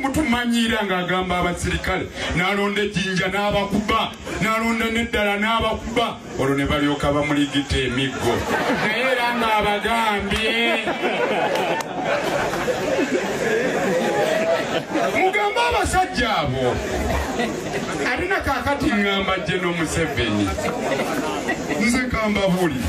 mutumanyiira ng'agamba abasirikale n'alonda ejinja n'abakuba n'alonda n'eddala n'abakuba olwo ne balyoka bamuligita emiggo naye era ng'abagambye mugambe abasajja abo alina kakati ngamba jeno museveni nze kambabuli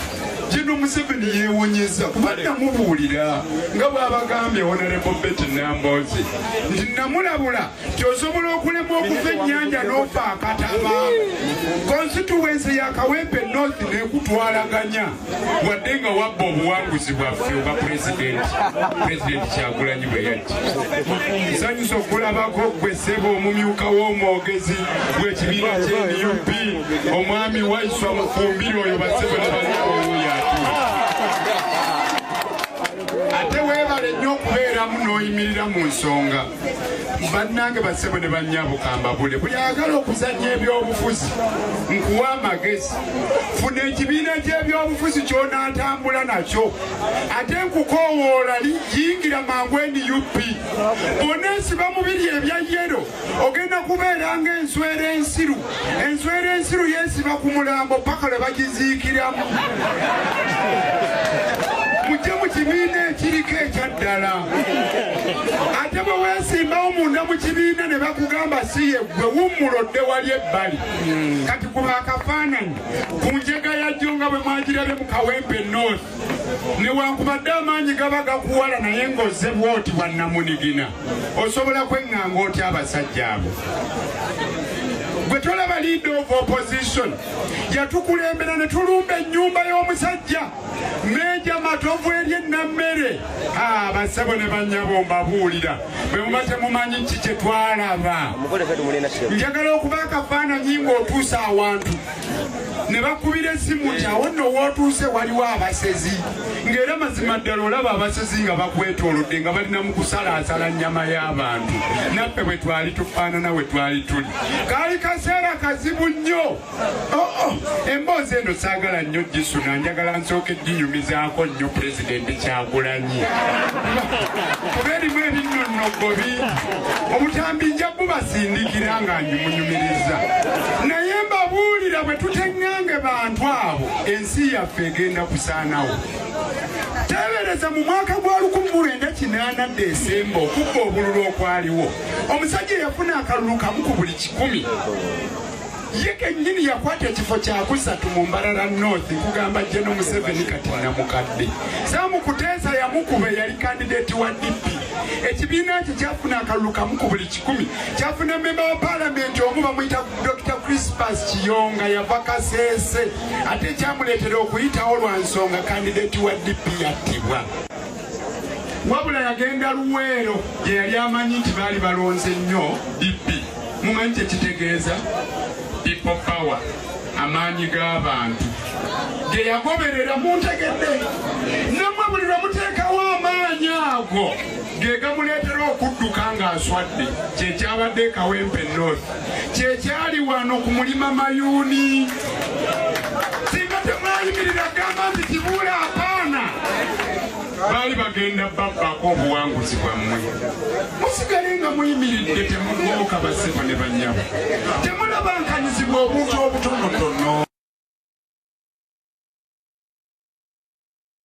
Jino Museveni yewonyeza kuba namubuulira nga bwabagambye Honorable Betty Namboozi nti namulabula nti osobola okulema okuva ennyanja n'ofa akataba konsituwensi ya Kawempe North nekutwalaganya wadde nga wabba obuwanguzi bwaffe obwa pulezidenti pulezidenti Kyagulanyi bwe yajja nsanyusa okulabako gwe ssebo omumyuka w'omwogezi gw'ekibiina kya nup omwami waiswa mufumbire oyo basebe nabalikowuyatura ate webale nnyo okubeeramu n'oyimirira mu nsonga bannange basebo ne bannyabukaambabule buli agala okuzannya ebyobufuzi nkuwa amagezi funa ekibiina ky'ebyobufuzi kyonaatambula nakyo ate nkukoowoola yingira mangu nup oneesiba mubiri ebya yero ogenda kubeera ng'enswera ensiru enswera ensiru yeesiba ku mulambo paka lwe bagiziikiramu mujje mu kibiina ekiriko ekyaddala ate bwe weesimbawo munda mu kibiina ne bakugamba si ye gwe wummula odde wali ebbali kati kuba akafaananyi ku njega yajjo nga bwe mwagirabye mu kawempe north newankubadde amaanyi gaba gakuwala naye ng'ozze bwoti bwannamunigina osobola kweŋŋanga otya abasajja abo gwe tolaba leader of opposition yatukulembera ne tulumba ennyumba y'omusajja meja matovu eri ennammere abasebo ne bannyabo mbabuulira bwe muba temumanyi ki kye twalaba njagala okuba akafaananyi ng'otuusa awantu ne bakubira essimu nti awo nno wootuuse waliwo abasezi ng'era mazima ddala olaba abasezi nga bakwetoolodde nga balina mu kusalaasala nnyama y'abantu naffe bwe twali tufaanana we twali tuli kaali kaseera kazibu nnyo oh, oh. emboozi eno saagala nnyo gisuna njagala nsooka ejjinyumizaako nnyo pulezidenti kyagulanyi kuba erimu ebinnonnogo bingi obutambi nja bubasindikira nga ngimunyumiriza naye mbabuulira bwe tuteŋŋange bantu abo ensi yaffe egenda kusaanawo teebereza mu mwaka gwa 1980 desemba okubba obululu okwaliwo omusajja eyafuna akalulu kamu ku buli kikumi ye kennyini yakwata ekifo kyakusatu mu mbarara north kugamba jeno museveni kati namukadde samu kuteesa yamukuba eyali kandideeti wa dp ekibiina kye kyafuna akalulu kamu ku buli kikumi kyafuna memba wa paalamenti omu bamuyita dr crispas kiyonga yava kaseese ate ekyamuleetera okuyitawo lwa nsonga kandideeti wa dp yattibwa wabula yagenda luweero gye yali amanyi nti baali balonze nnyo bibbi mumanyi kyekitegeeza people power amaanyi g'abantu ge yagoberera muntegedde namwe buli lwe muteekawo amaanyi ago ge gamuleetera okudduka ng'aswadde kyekyabadde ekawempe north kyekyali wano ku mulima mayuuni singa temwayimirira gamba nti kibuula apaana baali bagenda babbako obuwanguzi bwammwe musigale nga muyimiridde temugooka basebo ne banyabo temulabankanyizibwa obuntu obutonotono